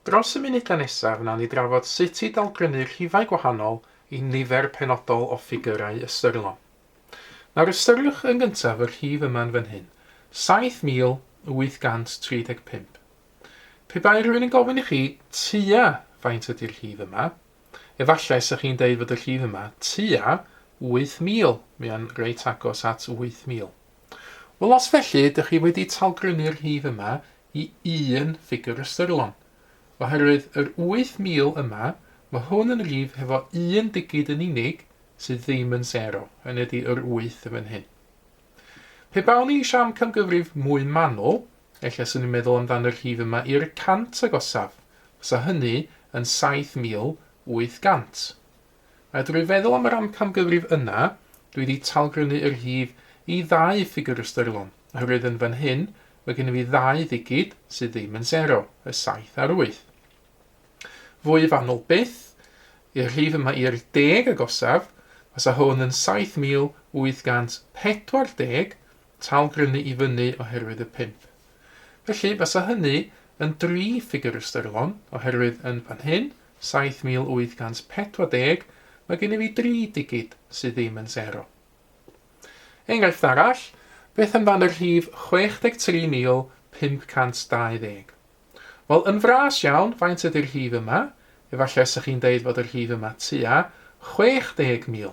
Dros y munudau nesaf wnawn ni drafod sut i dalgrynnu rhifau gwahanol i nifer penodol o ffigyrau ystyrlon. Nawr ystyriwch yn gyntaf y rhif yma'n fan hyn, 7,835. Pe bai rhywun yn gofyn i chi tua faint ydy'r rhif yma, Efallai 'sa chi'n deud fod y llif yma tua 8,000, mae o'n reit agos at 8,000. Wel, os felly, dych chi wedi talgrynnu'r llif yma i un ffigur ystyrlon. Oherwydd yr 8,000 yma, mae hwn yn rif hefo un digid yn unig sydd ddim yn sero, hynny ydi yr wyth yn fan hyn. Pe bawn i eisiau amcangyfrif mwy manwl, Ella 'swn i'n meddwl amdan y rhif yma i'r cant agosaf, fysa hynny yn 7,800. A drwy feddwl am yr amcamgyfrif yna, dwi wedi talgrynnu y rhif i ddau ffigur ystyrlon, oherwydd yn fan hyn mae gennyf fi ddau ddigid sydd ddim yn sero, y saith a'r wyth. Fwy fanwl byth, i'r rhif yma i'r deg agosaf, fysa hwn yn 7,840, taw brynu i fyny oherwydd y pump. Felly, fasa hynny yn dri ffigur ystyrlon, oherwydd yn fan hyn, 7840, mae gennyf fi dri digid sydd ddim yn sero. Enghraifft arall, beth am dan y rhif 63520? Wel, yn fras iawn, faint ydy'r rhif yma? Efallai 'sa chi'n deud fod y rhif yma tua 60,000.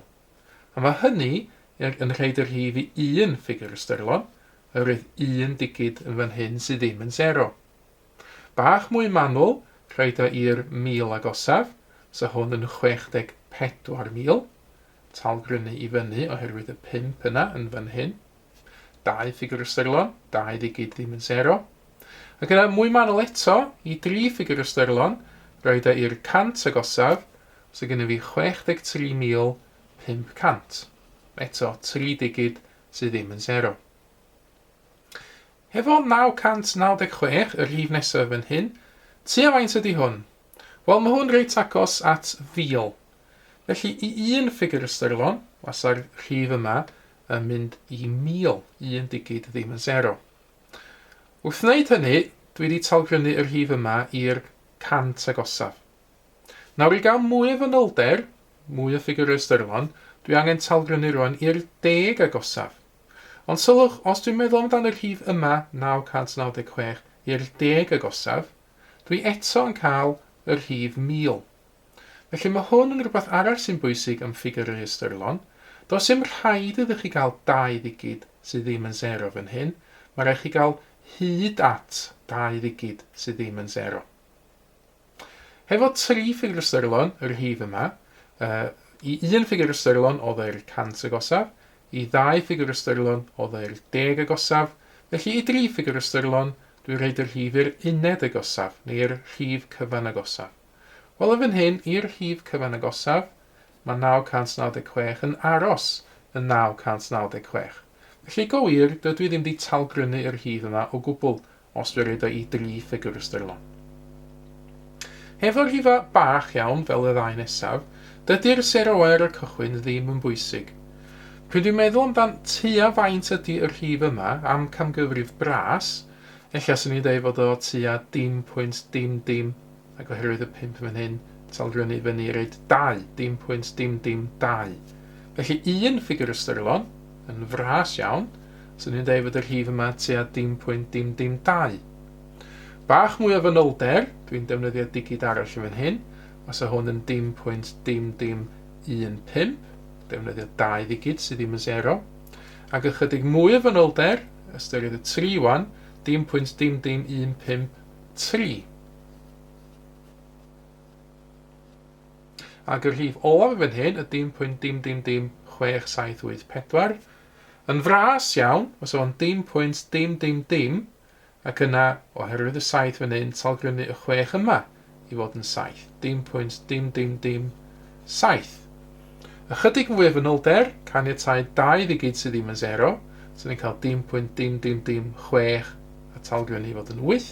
A mae hynny er yn rhaid yr hif i un ffigur ystyrlon, yr oedd un digid yn fan hyn sydd ddim yn sero. Bach mwy manwl, rhaid o i'r mil agosaf, fysa hwn yn 64,000, talgrynnu i fyny oherwydd y pump yna yn fan hyn. Dau ffigur ystyrlon, dau ddigid ddim yn sero. Ac yna mwy manwl eto, i dri ffigur ystyrlon, rhaid o i'r cant agosaf, Sy gynno fi 63,500. Eto, tri digid sydd ddim yn sero. Hefo 996, y rhif nesaf fan hyn, tua faint ydy hwn? Wel, mae hwn reit agos at 1000. Felly, i un ffigur ystyrlon, fasa'r rhif yma yn mynd i 1000, un digid ddim yn sero. Wrth wneud hynny, dwi wedi talgrynnu y rhif yma i'r 100 agosaf. Nawr i gael mwy o fanylder, mwy o ffigurau ystyrlon, dwi angen talgrynnu rwan i'r deg agosaf. Ond sylwch, os dwi'n meddwl amdan y rhif yma, 996, i'r deg agosaf, dwi eto yn cael y rhif 1000. Felly mae hwn yn rhywbeth arall sy'n bwysig am ffigurau ystyrlon, does dim rhaid iddo chi gael dau ddigid sydd ddim yn sero fan hyn, mae rhaid chi gael hyd at dau ddigid sydd ddim yn sero. Hefo tri ffigur ystyrlon y rhif yma, i un ffigur ystyrlon oddeu'r 100 agosaf, i ddau ffigur ystyrlon oddeu'r deg agosaf, felly i dri ffigur ystyrlon dwi'n rhoid y rhif i'r uned agosaf, neu'r rhif cyfan agosaf. Wel yn fan hyn, i'r rhif cyfan agosaf, mae 996 yn aros yn 996. Felly go wir, dydw i ddim 'di talgrynnu y rhif yma o gwbl, os fe reda i dri ffigwr ystyrlon. Hefo'r rhifa bach iawn fel y ddau nesaf, dydy'r seroau ar y cychwyn ddim yn bwysig. Pryd dwi'n meddwl amdan tua faint ydy y rhif yma, amcamgyfrif bras, ella swn i'n deud fod o tua dim pwynt dim dim Ac oherwydd y pump fan hyn, taldriwn i fyny i roid dau, dim pwynt, dim, dim, dau. Felly un ffigur ystyrlon, yn fras iawn, swn i'n deud fod y rhif yma tua dim pwynt, dim, dim, dau. Bach mwy o fanylder, dwi'n defnyddio digid arall yn fan hyn, os o hwn yn dim pwynt, dim, dim, un, pump, defnyddio dau ddigid sydd ddim yn sero. Ac ychydig mwy o fanylder, ystyried y tri wan, dim pwynt, dim, dim, un, pump, tri. Ac y rhif o'r fan hyn y dim pwynt dim dim dim 6784 yn fras iawn os o'n dim pwynt dim dim dim ac yna oherwydd y 7 fan hyn talgrynu y 6 yma i fod yn 7 dim pwynt dim dim dim 7 ychydig fwy o fanylder caniatau 2 ddigid sydd ddim yn 0 so ni'n cael dim pwynt dim dim dim 6 a talgrynu i fod yn 8